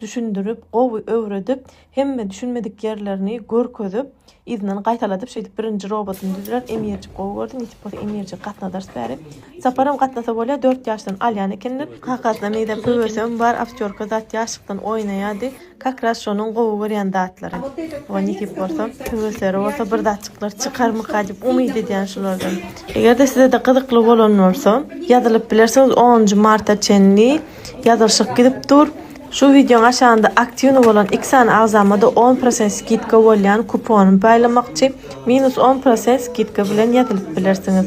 düşündirip, gowy öwredip, hemme düşünmedik ýerlerini görkezip, yzyndan gaýtaladyp, şeýdip birinji robotyny düzdiler. Emirjik gowy gördi, nesip bolsa Emirjigi gatnadarys bäri. Saparam gatnasa bolýar, dört ýaşdan alýan ekenler. Kakasyna nirä söwesem bar, aktýorka zat ýaşlykdan oýnaýardy. Kakras şonuň gowy görýän zatlary. Oňa nesip bolsa, söwesleri bolsa bir zatjyklar çykarmyka diýip umyt edýän şulardan. Eger-de size-de gyzykly bolan bolsa, ýazylyp bilersiňiz, onunjy marta çenli. Ýazylyşyk gidip dur. Şu wideoň aşagynda aktiwnyý bolan iki sany agzamada on prosent skidka bolýan kuponymy paýlamakçy. Minus on prosent skidka bilen ýazylyp bilersiňiz.